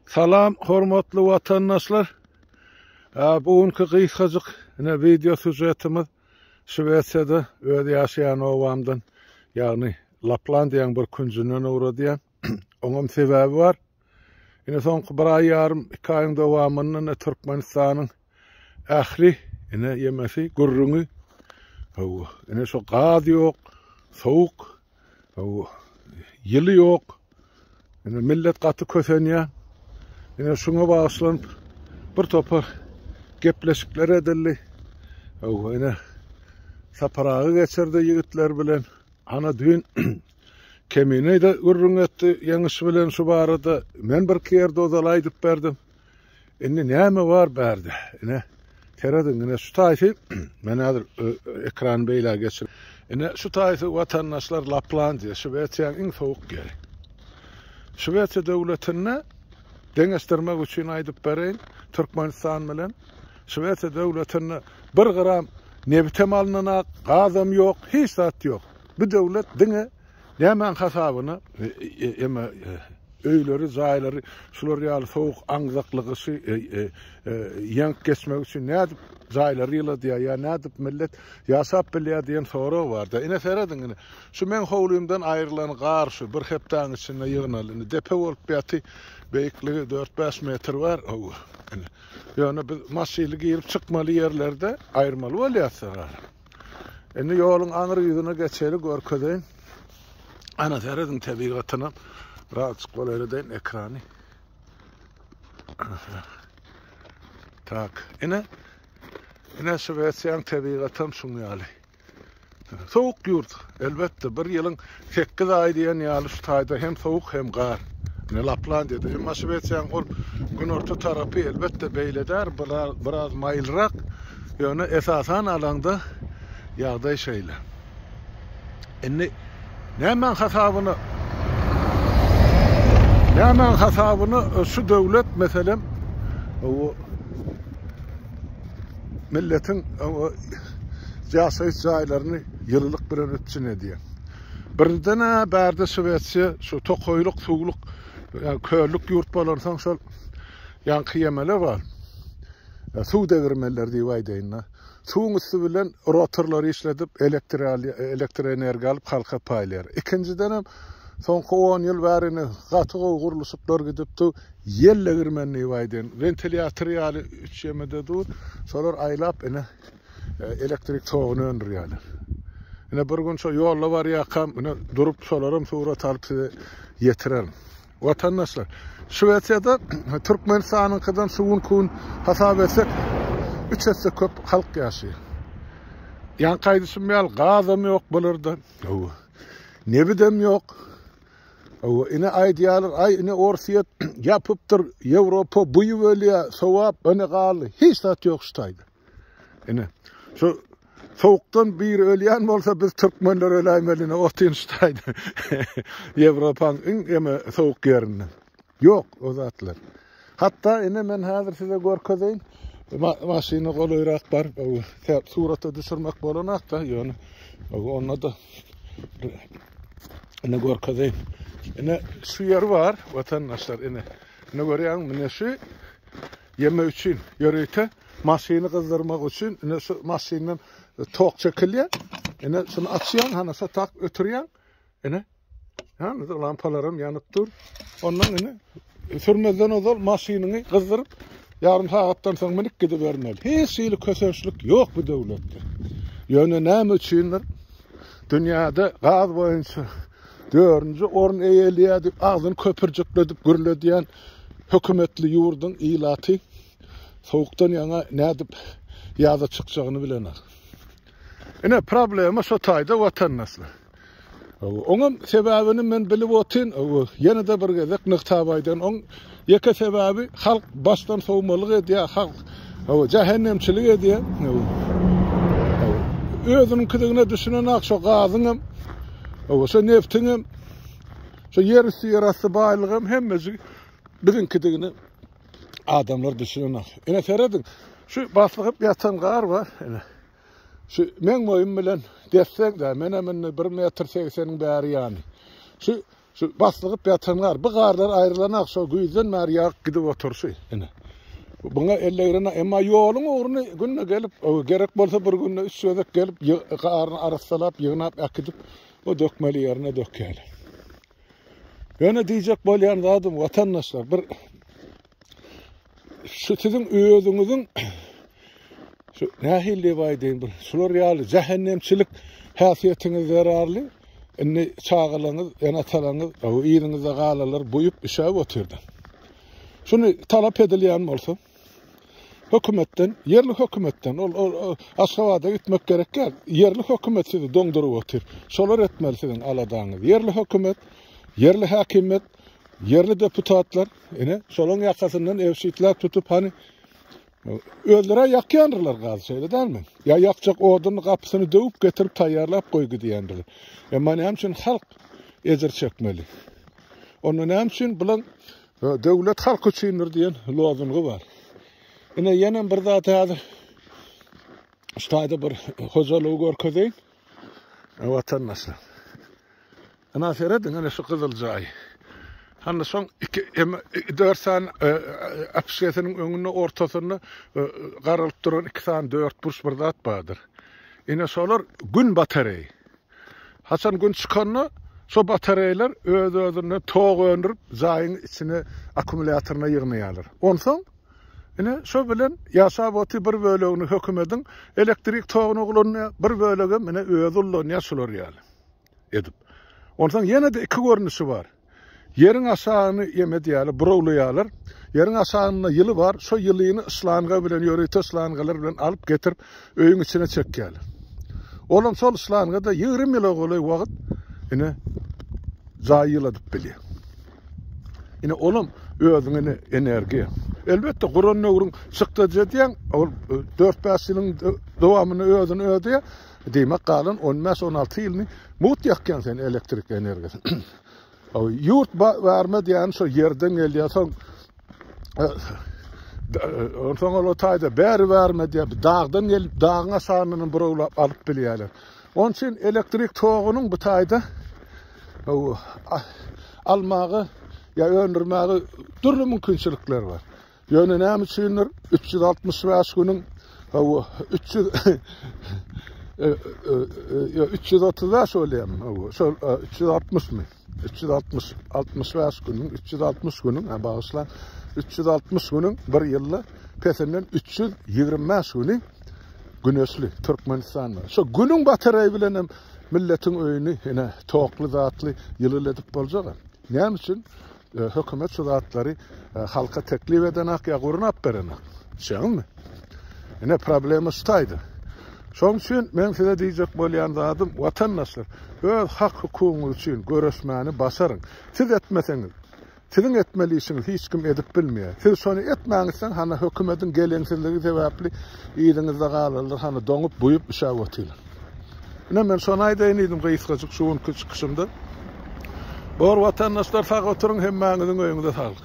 Salam hormatly watandaşlar. Bu günki gysgajyk ine wideo sujetimiz Şwesiýada öz ýaşaýan obamdan, ýagny Laplandiýaň bir künjünden ugradýan. Oňam sebäbi bar. Ine soňky bir aý ýarym, iki aýyň dowamynda ine Türkmenistanyň Ähli ine ýemesi gürrüňi hawa ine şo gaz ýok, sowuk hawa ýyly ýok. Ine millet gaty kösenýär. Ine şuňa bagyşlanyp bir topar gepleşikler edildi. Hawa ine Sapar aga geçirdi ýigitler bilen. Ana düýn Kemine-de gürrüň etdi Ýeňiş bilen şu barada. Men birki ýerde ozal aýdyp berdim. Indi näme bar bärde? Ine, serediň, ine şu taýsy, men häzir ekrany beýle geçir. Ine şu taýsy watandaşlar Laplandiýa, Şwesiýanyň iň sowuk ýeri. Şwesiýa döwletinde deňeşdirmek üçin aýdyp bereýin, Türkmenistan bilen Şwesiýa döwletinde bir gram nebitem alynanok, gazam ýok, hiç zat ýok. Bu döwlet diňe Nämäň hasabyna? Emma öýleri, jaýlary şular ýaly sowuk aňzaklygy şy ýeňip geçmek üçin nädip jaýlary ýyladýar ýa nädip millet ýaşap bilýär diýen sorag barda. Ine serediň ine şu meň howlymdan aýrylan gar şu bir hepdäň içinde ýygnaldy. Indi depe bolup ýaty beýikligi dört-bäş metr bar howwa. Ine. Ýöne biz maşyly girip çykmaly ýerlerde aýyrmaly bolýas. Indi ýoluň aňry ýüzüne geçeli görkezeýin. Ana serediň tebigatyna. Birazjyk golaýladyň ekrany. Tak. Ine. Ine Şwesiýaň tebigaty hem şuň ýaly. Sowuk ýurt. Elbetde bir ýylyň Sekiz aý diýen ýaly şu taýda hem sowuk hem gar. Ine Laplandiýada. Emma Şwesiýanyň ol günorta tarapy elbetde beýle däl, biraz maýylrak. Ýöne esasan alaňda ýagdaý şeýle. Indi nämäň hasabyna nämäň hasabyna şu döwlet meselem milletiň ýaşaýyş jaýlaryny ýylylyk bilen üpjün edýär. Birden-ä bärde Şwesiýa şu tokaýlyk, suwluk, köllük ýurt bolansoň şol ýaňky ýemele bar. Suw degirmenleri diýip aýdaýyn-da. Suwuň üsti bilen rotorlary işledip, elektrik alýar, elektroenergiýa alyp halka paýlaýar. Ikinjidenem soňky on ýyl bäri indi gaty gowy gurluşyklar gidipdi. Ýel degirmenini baýdan wentilýator ýaly üç ýemede dur. Şolar aýlap ine elektrik toguny öndürýärler. Ine bir gün şo ýolda barýarkam ine durup şolaram surat alyp size ýetirerin. Watandaşlar, Şwesiýada Türkmenistanyňkydan suwun kun hasap etsek üç esse köp halk ýaşaýar. Ýaňky aýdyşym ýaly gazam ýok bularda. Nebidem ýok. Hawa ine aýdýarlar aý ine orsyýet ýapypdyr ýewropa buýup ölýär sowap ine galdy hiç zat ýok şu taýda ine şu sowukdan biri ölýän bolsa biz türkmenler öläýmeli ine otyn şu taýda ýewropaň iň eme sowuk ýerinde Ýok o zatlar. Hatda ine men häzir size görkezeýin. Maşyna golaýrak baryp, surata düşürmek bolanakda, ýöne onda-da ine görkezeýin. Ine şu ýer bar, watandaşlar, ine. Ine görýäňmi, mine şu ýeme üçin, ýörite maşyny gyzdyrmak üçin, ine şu maşyndan tok çekilýär. Ine şuny açýaň, hana şu tak ötürýäň. Ene. Ýani lampalaram ýanyp dur. Ondan ene sürmezden ozal maşynyňy gyzdyryp, ýarym sagatdan soň minip gidibermeli. Hiç hili kösençlik ýok bu döwletde. Ýöne näme üçindir? Dünýäde gaz boýunça dördünji orun eýeleýär diýip agzyny köpürjikledip gürledýän hökümetli ýurduň ilaty sowukdan ýaňa nädip ýaza çykjagyny bilenok. Ine problema şo taýda watandaşlar. Oňam sebäbini men bilip otyn, ýene-de bir gezek nygtap aýdan, oň ýeke sebäbi halk başdan sowmalyk edýär, halk jähennemçilik edýär. Özüniňkidigine düşünenak şo gazyňam, şo neftiňem, şo ýer üsti ýer asty baýlygam hemmesi biziňkidigine adamlar düşünenak. Ine serediň, şu baslygyp ýatan gar bar, ine. Şu meň boýum bilen dessegdä, menem indi bir metr segseniň bäri ýany. Şu şu baslygyp ýatan gar, bu garlar aýrylanak şo güýzden bäri ýagyp gidip otur şu ine. Buňa ellegrene, emma ýoluň ugruny günde gelip, gerek bolsa bir günde üç gezek gelip, garyny arassalap, ýygnap äkidip, o dökmeli ýerine dökýärler. Ýöne diýjek bolýan zadym, watandaşlar, bir şu siziň özüňiziň şu nähil diýip aýdaýyn bir şular ýaly jähennemçilik häsiýetiňiz zerarly indi çagalaňyz enatalaňyz yzyňyzda galalar buýup işäp otyrdy şuny talap edilýän bolsa hökümetden ýerli hökümetden ol aşgabada gitmek gerek ýer ýerli hökümet sizi doňduryp otyr şolar etmeli siziň aladaňyz ýerli hökümet ýerli häkimiýet ýerli deputatlar Ine, şolaň ýakasyndan ewşitlap tutup, hany özleri ýakýandyrlar gazy, şeýle dälmi? Ýa ýakjak oduny gapysyny döwüp getirip taýýarlap goý gidýändirler. Emma näme üçin halk ejir çekmeli? Onda näme üçin bulaň e, döwlet halk üçindir diýen lozungy bar. Ine ýene bir zat häzir şu taýda bir hojalygy görkezeýin. Watandaşlar. Ana serediň ana şu gyzyl jaý. Hany şoň iki eme dört sany e, e, apşesiniň öňünde ortasynda e, garalyp duran iki sany dört burç bir zat bardyr. Ine şolar gün batareýi. Haçan gün çykanda şo batareýler öz-özüne tok öndürip jaýyň içine akkumulýatoryna ýygnaýarlar. Onsoň Ine, şo bilen ýaşap oty bir bölegini hökümediň elektrik togyna ulanýar, bir bölegem ine özi ullanýar şular ýaly edip. Onsoň ýene-de iki görnüşi bar. Ýeriň aşagyny ýem edýärler, burawlaýarlar. Ýeriň aşagynda ýyly bar, şo ýylyny şlanga bilen, ýörite şlangalar bilen alyp getirip öýüň içine çekýärler. Olam şol şlanga-da ýigrimi ýyla golaý wagt ine jaý ýyladyp bilýär. Ine olam özüň ine energiýa. Elbetde guran nöwrüň çykdajy diýen ol 4-5 ýylyň dowamyny özüni ödeýär. Diýmek galan 15-16 ýylyny mugt ýakýan sen elektrik energiýasy. Ýurt barma diýen şo ýerden gelýär soň Onsoň ol otayda bäri bärme diýip dagdan gelip dagyň aşagyndan burawlap alyp bilýärler. Onuň üçin elektrik togunyň bu taýda almaga ýa öndürmäge dürli mümkinçilikler bar. Ýöne näme üçindir üç ýüz altmyş bäş günüň hawa üç ýüz üç ýüz otuz bäş bolýarmy? Hawa şol üç ýüz altmyşmy? Üç ýüz altmyş, altmyş bäş günüň, üç ýüz altmyş günüň, ha, bagyşlaň, üç ýüz altmyş günüň bir ýylda pesinden üç ýüz ýigrimi bäş güni güneşli Türkmenistanda. Şo günüň batareýi bilen hem milletiň öýüni ine tokly zatly ýylyly edip boljak. Näme üçin e, hökümet şu zatlary e, halka teklip edenak ýa gurun ap berenak? Şeňmi? Ine problema şu taýda. Şoň üçin men size diýjek bolýan zadym, watandaşlar, öz hak-hukugyňyz üçin göreşmäni başaryň. Siz etmeseňiz, siziň etmeli işiňiz hiç kim edip bilmeýär. Siz şony etmäňizden hana hökümetiň geleňsizligi sebäpli yzyňyzda galarlar, hana doňup, buýup üşäp otyrlar. Ine men şony aýdaýyn diýdim gysgajyk şu günki çykyşymda. Bor watandaşlar sag oturyň, hemmäňiziň öýüňize saglyk.